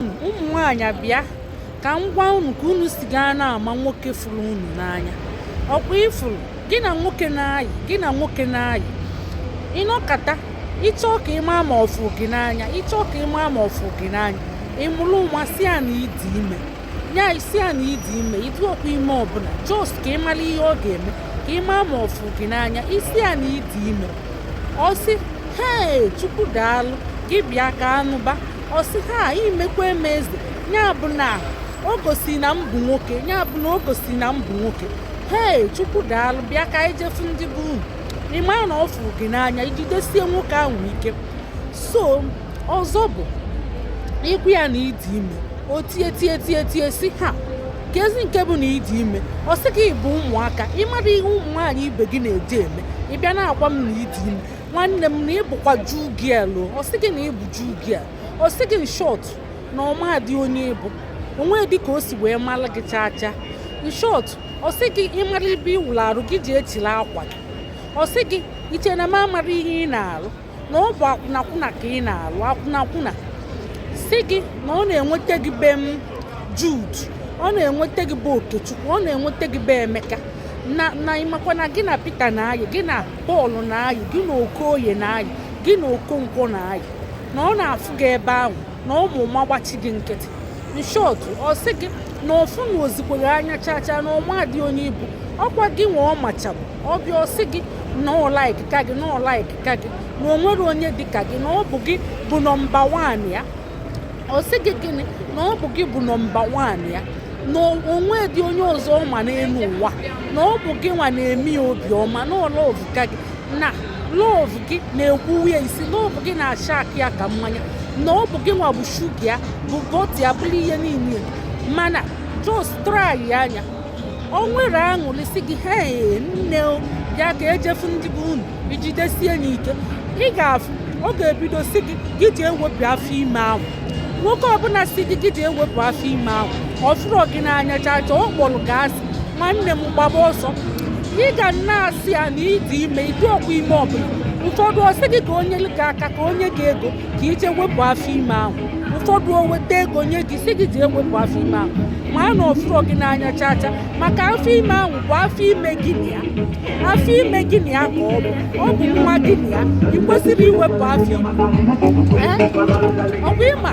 ụmụ nwaanyị bịa ka m gwa unu ka unu si gaa na-ama nwoke fụrụ unu n'anya ọ kwa ị fụrụ gị na nwoke na-ayị gị na nwoke na-ayị ị nọkata ị chọọ ka ị ma ma ọ fụ gị n'anya ị chọọ ka ị ma ma ọ fụ gị n'anya ị mụrụ ụma sị ya na ị dị ime ya ị sị ya na ị dị ime ị dịrọkwa ime ọbụla just ka ị mara ihe ọ ga-eme ka ị ma ma ọ fụ gị n'anya ị sị ya na ị dị ime ọ sị hee chukwu daalụ gị bịa ka a nụba ọ sị ha i mekwaa m eze ya bụ na o gosi na m bụ nwoke ya bụ na o gosi na m bụ nwoke hei chukwu daalụ bịa ka anyị je fụ ndị be unu ị ma na ọ fụrụ gị n'anya i jidesie nwoke ahụ ike so ọzọ bụ ị gwa ya na ị dị ime o tie tie tie tie sị ha kezi nke bụ na ị dị ime ọ sị gị ị bụ ụmụaka ị marọ ihe ụmụ nwaanyị ibe gị na-eji eme ị bịa na-agwa m na ị dị ime nwanne m na ị bụkwa jew girl ọ sị gị na ị bụ jew girl ọ sị gị in short na ọ madị onye ị bụ o nwedị ka o si wee mara gị chaa chaa in short ọ sị gị ị mara ebe ị wụrụ arụ gị jee chịrị akwa gị ọ sị gị i che na m amarọ ihe ị na-arụ na ọ bụ akwụnakwụna ka ị na-arụ akwụnakwụna sị gị na ọ na-enweta gị be m jude ọ na-enweta gị be okechukwu ọ na-enweta gị be emeka na ị makwa na gị na peter na-ayị gị na Paul na-ayị gị na Okoye na-ayị gị na Okonkwo na-ayị na ọ na-afụ gị ebe ahụ na ọ mụ ụma gbachi gị nkịtị in short ọ sị gị na ọ fụrọzikwa gị anya chacha na ọ madị onye ị bụ ọ kwa gị nwa ọ machabu ọ bịa ọ sị gị na ọ like ka gị na ọ like ka gị na o nwerọ onye dị ka gị na ọ bụ gị bụ number one ya ọ sị gị gịnị na ọ bụ gị bụ number one ya na o nwedị onye ọzọ ọ ma n'elu ụwa na ọ bụ gị nwa na-eme ya obiọma na ọ love ka gị na love gị na-egbuwa ya isi love gị na-ashack ya ka mmanya na ọ bụ gị nwa bụ sugar ya bụ butter ya bụrụ ihe niile mana just try ya anya o nwere aṅụrị sị gị hee nne bịa ka e je fụ ndị be unu i jidesie ya ike ị ga-afụ ọ ga-ebido si gị gị ji ewepụ afọ ime ahụ nwoke ọbụla sị gị gị jee wepụ afọ ime ahụ ọ fụrọ gị n'anya chacha ọ kpọrọ gị asị nwanne m gbaba ọsọ ị ga na-asị ya na ị dị ime ị dịrọkwa ime ọbụla ụfọdụ ọ sị gị ka o nye gị aka ka o nye gị ego ka i jee wepụ afọ ime ahụ ụfọdụ o weta ego nye gị sị gị jee wepụ afọ ime ahụ maa na ọ fụrọ gị n'anya chaa chaa maka afọ ime ahụ bụ afọ ime gị na ya afọ ime gị na ya ka ọ bụ ọ bụ nwa gị na ya i kwesirọ iwepụ afọ ime Ee, ọ bụ ị ma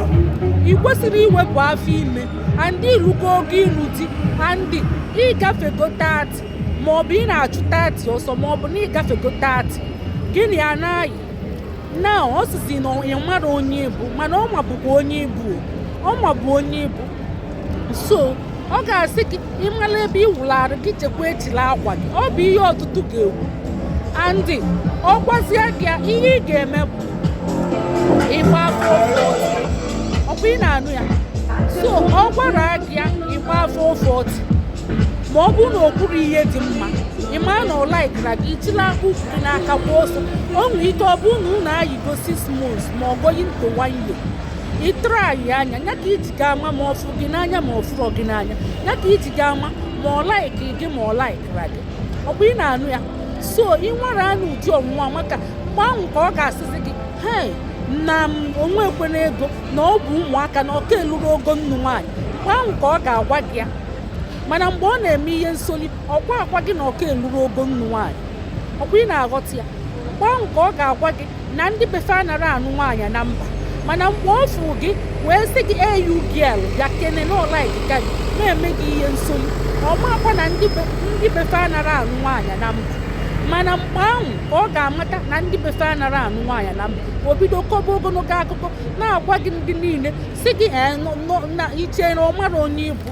i kwesirọ iwepụ afọ ime and i rugo ogo ịlụ di and ị gafego 30 maọbụ ị na-achụ 30 ọsọ maọbụ na ị gafego 30 gị na ya na-ayị na ọ sịzi na ya amarọ onye ị bụ mana ọ mabukwa onye ị bụ ọ mabu onye ị bụ so ọ ga-asị gị ị mara ebe ị wụlụ arụ gị jekwa echịla akwa gị ọ bụ ihe ọtụtụ ga-ekwu and ọ gwazie gị ya ihe ị ga-eme bụ ịgba four forty ọ bụ ị na-anụ ya so ọ gwara gị ya ị gbaa four forty ma ọ bụrụ na o kwuru ihe dị mma ị mara na ọ likerọ gị chịla ụkwụ gị n'aka gbaa ọsọ o nwere ike ọ bụrụ na unu ayigo six months ma ọ going to one year ị try ya ya ka i ji ga-ama ma ọ fụrụ gị n'anya ma ọ fụrọ gị n'anya ya ka i ji ga-ama ma ọ like gị ma ọ likerọ gị ọ bụ ị na-anụ ya so ị nwara ya ụdị ọnwụnwa maka mgbe ahụ ka ọ ga-asịzi gị hei na m onwe ekwena ego na ọ bụ ụmụaka na ọ ka elurọ ogo ịnụ nwaanyị mgbe ahụ ka ọ ga-agwa gị ya mana mgbe ọ na-eme ihe nsoli ọ gwaakwa gị na ọ ka elurọ ogo ịnụ nwaanyị ọkwa ị na-aghọta ya mgbe ahụ ka ọ ga-agwa gị na ndị be fa anara anụ nwaanyị na mba mana mgbe ọ fụ gị wee sị gị hey you girl bịakene na ọ like gị na-eme gị ihe nsoli ọ maakwa na ndị be fa anara anụ nwaanyị na mba mana mgbe ahụ ka ọ ga-amata na ndị be fa anara anụ nwaanyị na mba o bido kọba ogologo akụkọ na-agwa gị ndị niile sị gị eh, na i che na ọ marọ onye ị bụ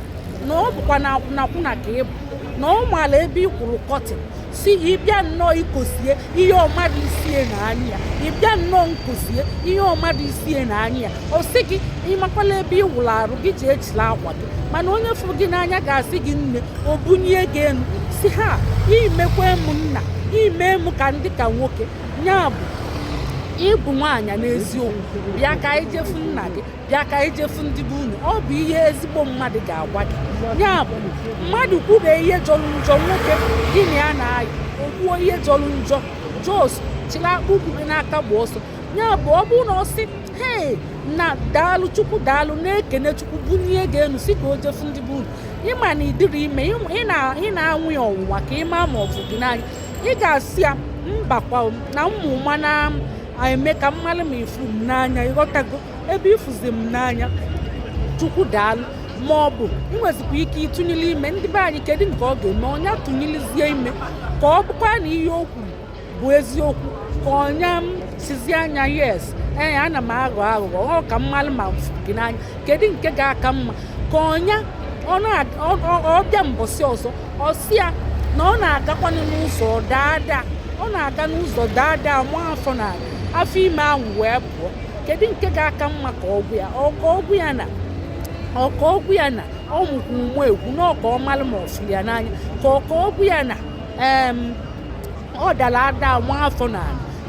na ọ bụkwa na akwụnakwụna ka ị bụ na ọ maala ebe ị kwụrụ kọtịn sị ị bịa nnọọ ikosie ihe ọmadụ isie na anya ya ị bịa nnọọ nkosie ihe ọmadụ isie na anya ya ọ sị gị ị makwala ebe ị wụrụ arụ gị je echịla akwa gị mana onye fụrụ gị n'anya ga-asị gị nne o bunie gị enu sị haa i mekwa m nna i me m ka m dị ka nwoke ya bụ ị bụ nwaanyị n'eziokwu bịa ka anyị je fụ nna gị bịa ka anyị je fụ ndị be unu ọ bụ ihe ezigbo mmadụ ga-agwa gị ya bụ mmadụ kwube ihe jọrọ njọ nwoke gị na ya na-ayị o kwuo ihe jọrọ njọ just chịla ụkwụ gị n'aka gba ọsọ ya bụ ọ bụrụ na ọ sị hee na daalụ chukwu daalụ na-ekene chukwu bunie gị enu sị ka o je fụ ndị be unu ị ma na ị dịrọ ime ị na-anwa ya ọnwụnwa ka ị ma ma ọ fụ gị n'anya ị ga-asị ya mbakwa na mụ ma na-eme ka m malụ ma ị fụ m n'anya ị ghọtago ebe ị fụzi m n'anya chukwu daalụ ma ọ bụ ị nwezikwa ike ịtụnyere ime ndị be anyị kedu nke ọ ga-eme ọ nya tụnyelizie ime ka ọ bụkwa na ihe o kwuru bụ eziokwu ka ọ nya sịzi nya yes ee ana m aghọ aghụghọ ọ ka m malụ ma m fụ gị n'anya kedu nke ga-aka mma ka ọ nya ọ bịa mbọsị ọzọ ọ sị ya na ọ na-agakwanụ n'ụzọ daa ada ọ na-aga n'ụzọ daa ada maa afọ n'anị afọ ime ahụ wee pụọ kedu nke ga-aka mma ka ọ gwa ya ọ ka ọ gwa ya na ọ ka ọ gwa ya na ọ mụkwu nwa egwu na ọ ka ọ malụ ma ọ fụ ya n'anya ka ọ ka ọ gwa ya na ọ dara ada nwa afọ na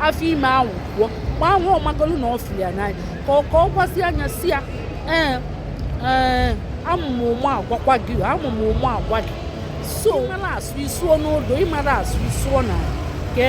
afọ ime ahụ pụọ ma ahụ ọ magolu na ọ fụlụ ya n'anya ka ọ ka ọ gwazia ya sị ya ee ee amụmụ ụmụ agwakwa gị amụmụ ụmụ agwa gị so ị mara asụ ị sụọ n'odo ị mara asụ ị sụọ n'ala